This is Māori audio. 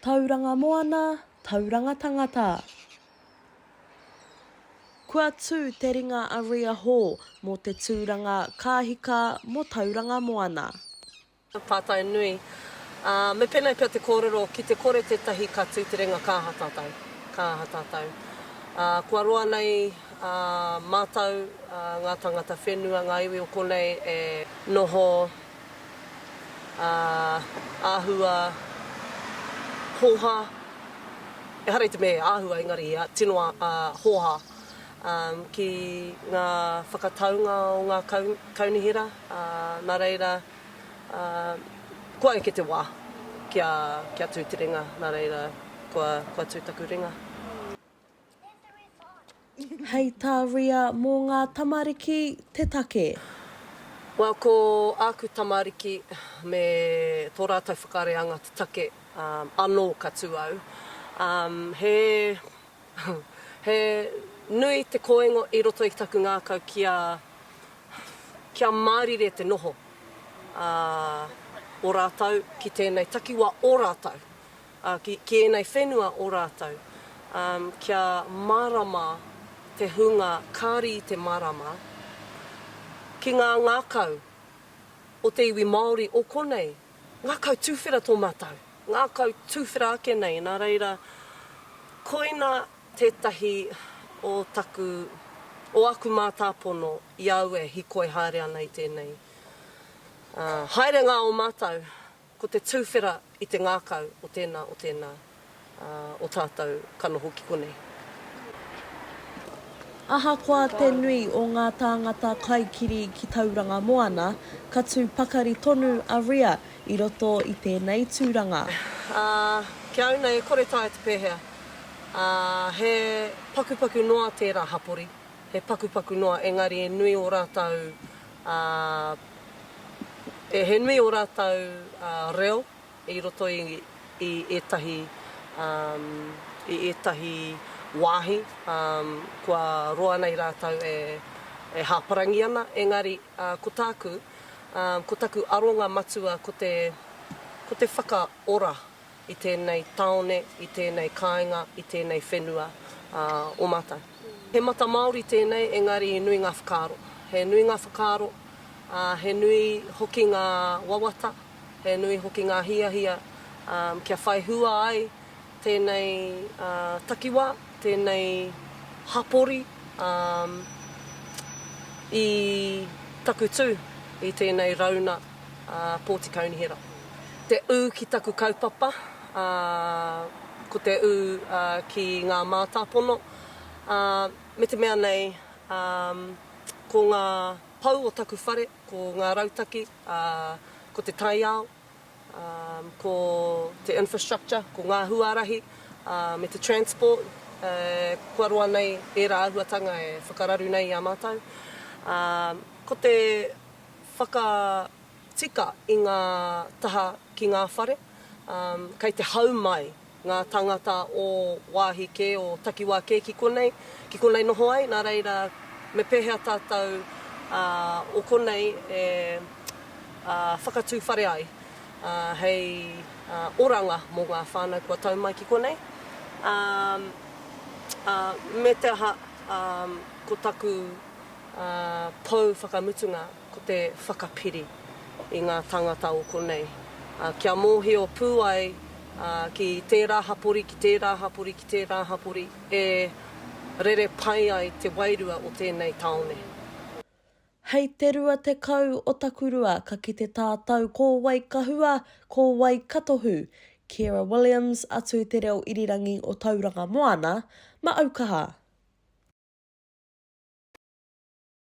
Tauranga moana, tauranga tangata. Kua tū te ringa a Ria Hall mō te tūranga Ka Hika mō Tauranga Moana. Tātai nui, ā, me pēnei pea te kōrero, ki te kore tētahi ka tū te ringa ka aha tātou? Ka aha tātou? Ā, kua roa nei, ā, mātou, ā, ngā tāngata whenua, ngā iwi o konei e noho ā, āhua, hōhā, ehara i te mea e āhua engari tino hōhā ki ngā whakataunga o ngā kaunihera, nā reira kua eke te wā kia tū te ringa, nā reira kua tū taku ringa. Hei tā Ria, mō ngā tamariki te take. Well, ko āku tamariki me tō rātou whakareanga te take anō ka tū au. He he nui te koingo i roto i taku ngākau kia kia mārire te noho o rātou ki tēnei takiwā o rātou. Ā, ki, ki ēnei whenua o rātou, ā, kia mārama te hunga kāri i te marama, ki ngā ngākau o te iwi Māori o konei, ngākau tuwhera tō mātou, ngākau tuwhera ake nei, nā reira, koina tētahi o taku, o aku mātāpono i a au e hīkoi haere ana i tēnei, ā, haerenga o mātou. Ko te tuwhera i te ngākau o tēnā, o tēnā, ā, o tātou ka noho ki konei. Ahakoa te nui o ngā tāngata kaikiri ki Tauranga Moana, ka tū pakari tonu a Ria i roto i tēnei tūranga. Ā, ki a Una e kore taea te pēhea, ā, he pakupaku noa tērā hapori, he pakupaku noa, engari e nui ō rātou Ā, he nui ō rātou reo i roto i, i ētahi, ā, i ētahi wāhi, ā, kua roa nei rātou e, e hāparangi ana, engari, ā, ko tāku, ā, ko taku aronga matua ko te, ko te whakaora i tēnei tāone, i tēnei kāinga, i tēnei whenua o mātou. He mata Māori tēnei engari nui ngā whakaaro. He nui ngā whakaaro, he nui hoki ngā wawata, he nui hoki ngā hiahia kia whai hua ai tēnei takiwā, tēnei hapori i taku tū i tēnei rauna. a Pōti Kaunihera. Te ū ki taku kaupapa, ā, ko te ū ki ngā mātāpono, ā, me te mea nei, ā, ko ngā pou o taku whare, ko ngā rautaki, ā, ko te taiao, ā, ko te infrastructure, ko ngā huarahi, ā, me te transport, ē, kua roa nei ērā āhuatanga e whakararu nei i a mātou. Ā, ko te. whakatika i ngā taha ki ngā whare, kei te hau mai ngā tāngata o wāhi kē, o takiwā kē ki konei, ki konei noho ai, nā reira, me pēhea tātou o konei e whakatū whare ai hei oranga mō ngā whānau kua tau mai ki konei, ā, me te aha, ko taku pou whakamutunga ko te whakapiri i ngā tāngata o konei, kia mōhio pū ai ki tērā hapori, ki tērā hapori, ki tērā hapori e rere pai ai te wairua o tēnei tāone. Hei te 20 o Takurua ka kite tātau ko Waikahua, ko Waikatohu Ciara Williams atu te reo irirangi o Tauranga Moana, ma aukaha!